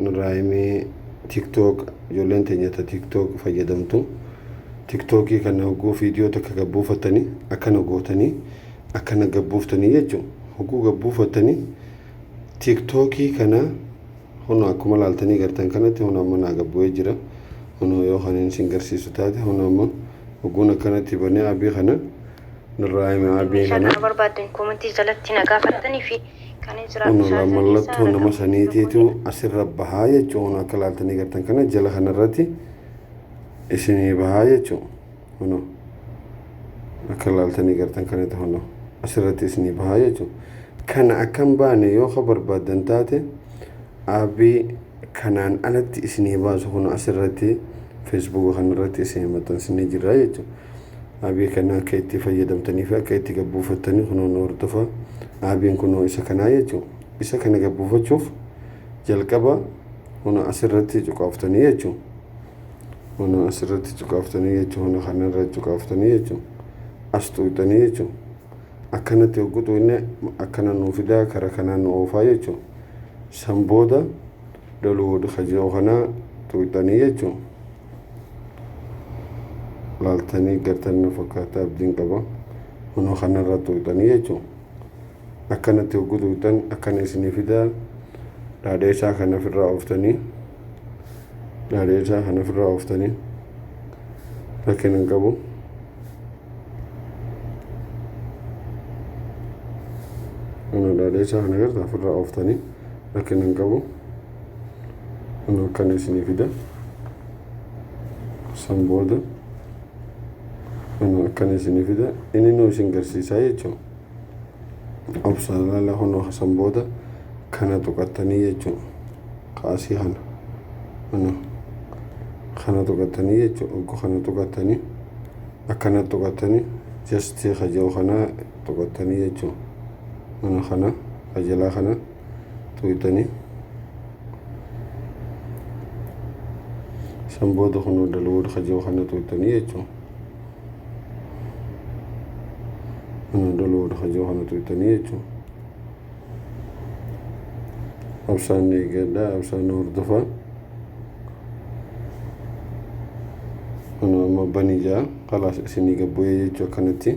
nurraa himee tiktok ijoolleen teenya ta tiktok fayyadamtu tiktokii kana hogguu viidiyoo takka gabbuufattanii akkana gootanii akkana gabbuuftanii jechuun hogguu gabbuufattanii tiktokii kana hona akkuma laaltanii gartan kanatti hona amma naa gabbu'ee jira hona yoo kanin sin garsiisu taate hona amma hogguun akkanatti banee abii kana nurraa hime abii kana. Meeshaa kana barbaaddan koomantii jalatti na gaafattanii fi Kun alaa mallattoo nama saniitiitu asirra bahaa jechuun kun akka laaltanii gartan kana jala kanarratti isinii bahaa jechuun kunoo akka laaltanii gartan kanatti kunoo asirratti isinii bahaa jechuun kana akka hin baane yoo ka barbaadan taate aabii kanaan alatti isinii baasu kun asirratti feesbuuka kanarratti isinii maxxansinee jirra jechuudha. aabii kana akka itti fayyadamtanii fi akka itti gabbuufattanii kunoo nu hordofa aabiin kunoo isa kanaa jechuudha isa kana gabbuufachuuf jalqaba huna asirratti cuqaaftanii jechuudha huna asirratti cuqaaftanii jechuudha huna kanarra cuqaaftanii jechuudha as tuuxanii jechuudha akkanatti hoggutu inni akkana nuu fidaa kara kanaa nu oofaa jechuudha san booda daluud kajoo kanaa tuuxanii jechuudha laaltanii gartan na fakkaata abdiin qaba hunoo kanarra tuuxanii jechuun akkanatti hogguu tuuxan akkana isinii fidaa dhaadheessaa kana ofirraa ooftanii dhaadheessaa kana ofirraa ooftanii rakkina hin qabu. Kana dhaadheessaa kana garta ofirraa ooftanii rakkina hin qabu. Anuu akkana isinii fida. San booda anuu akkana isinii fida. Inni nuu isin garsiisaa jechuun obsaan laala kunoo san booda kana tuqattanii jechuun kaasii kana. Anuu kana tuqattanii jechuun oggu kana tuqattanii akkana tuqattanii jastii kajoo kana tuqattanii jechuun. Anuu kana kajalaa kana. tuqxanii san booda kun dalwood kajoo kana tuqxanii jechuun kana dalwood kajoo kana tuqxanii jechuun absaan eegadha absaan hordofaa kana amma banii jaa kalaas isinii gabbu'ee jechuu akkanatti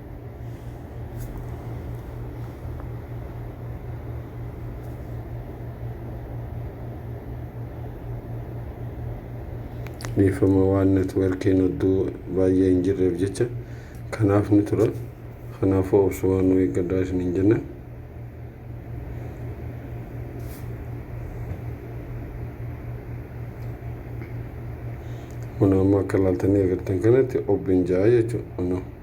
dhiifama waan networkiin hedduu baay'ee hin jirreef jecha kanaaf ni tura kanaafuu obsumaan nu eeggadhaa isiniin jenna kun amma akka laaltanii agartan kanatti obin ja'a jechuudha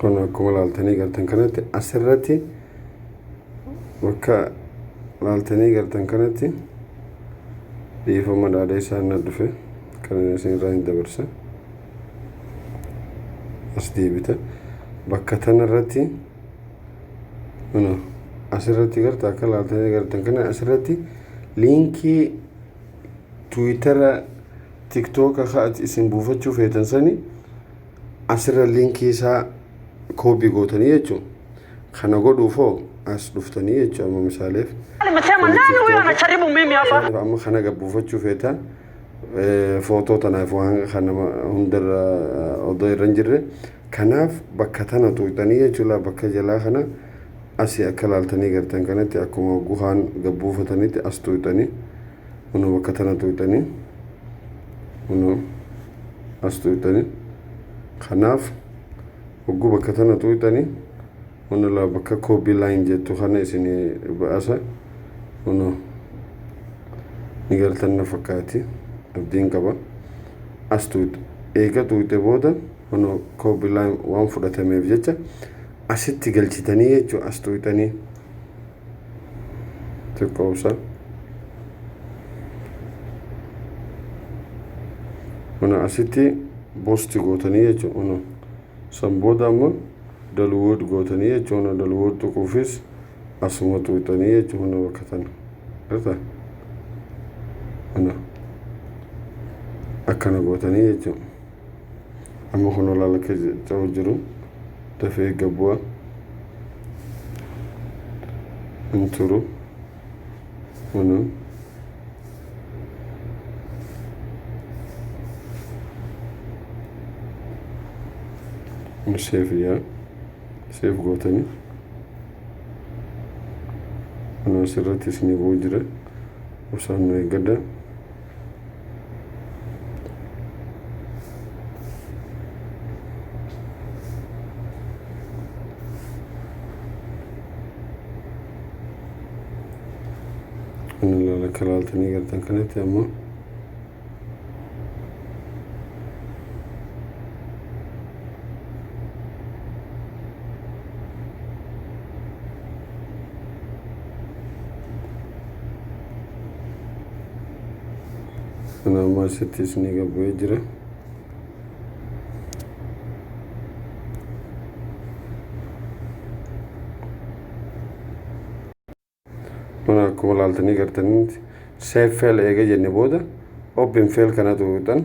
kun akkuma laaltanii gartan kanatti asirratti bakka laaltanii gartan kanatti dhiifama dhaadhee isaan na dhufe kan isin irraa hin dabarsa as deebita bakka tanarratti mana asirratti garta akka laaltanii gartan kana asirratti liinkii tiwiitara tiktoka ka ati isin buufachuu feetan sani asirra linkii isaa koobii gootanii jechuun kana godhuuf hoo as dhuftanii jechuun amma misaaleef Anasema kuni nani huyo tiktoka anajaribu mimi hapa? Fakkeenyaaf amma kana gabbuufachuu feetaan eh, footoo tanaaf waan kan nama hundarra eh, odoo irra hin jirre kanaaf bakka tana tuuqxanii jechuudha bakka jalaa kana asii akka laaltanii gartan kanatti akkuma guhaan gabbuufatanitti as tuuqxanii Kunoo bakka tana tuqxanii kunoo as tuqxanii kanaaf hogguu bakka tana tuqxanii kunoo laa bakka koobii laayin jettu kana isin ba'asa kunoo ni galtan na fakkaati abdiin qaba as tuqxe eega tuqxe booda kunoo koobii laayin waan fudhatameef jecha asitti galchitanii jechuun as tuqxanii. xiqqoomsan mana asitti boosti gootanii jechuun mana san booda amma dalwood gootanii jechuun mana dalwood tuquufis asuma tuqxanii jechuun mana bakka tana irra mana akkana gootanii jechuun amma kun olaal akka ta'u jiru dafee gabbu'a hin turu kunu seef yaa seef gootanii kunuun sirratti isinii bu'u jira osoo nu eeggadha Inni akka ilaaltanii gartan kanatti ammoo Kana ammaa asitti isinii gad bu'ee jira. Mana akkuma laaltanii gartanitti seef feel eega jenne booda open feel kana tuutan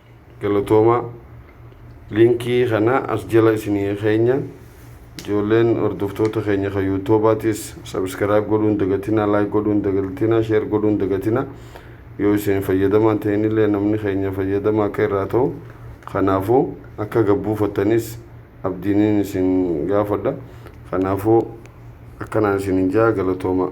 Galatoomaa. Linkii kana as jala isinii keenya. Ijoolleen hordoftoota keenya kan yuutuubaatis sabiskiraayib godhuu hin dagatinaa, laayik godhuu hin dagatinaa, sheer godhuu hin dagatinaa. Yoo isin fayyadamaa hin ta'inillee namni keenya fayyadamaa akka irraa ta'u kanaafuu akka gad buufattanis abdiiniin isin gaafadha. Kanaafuu akkanaan isinin ja'a galatoomaa.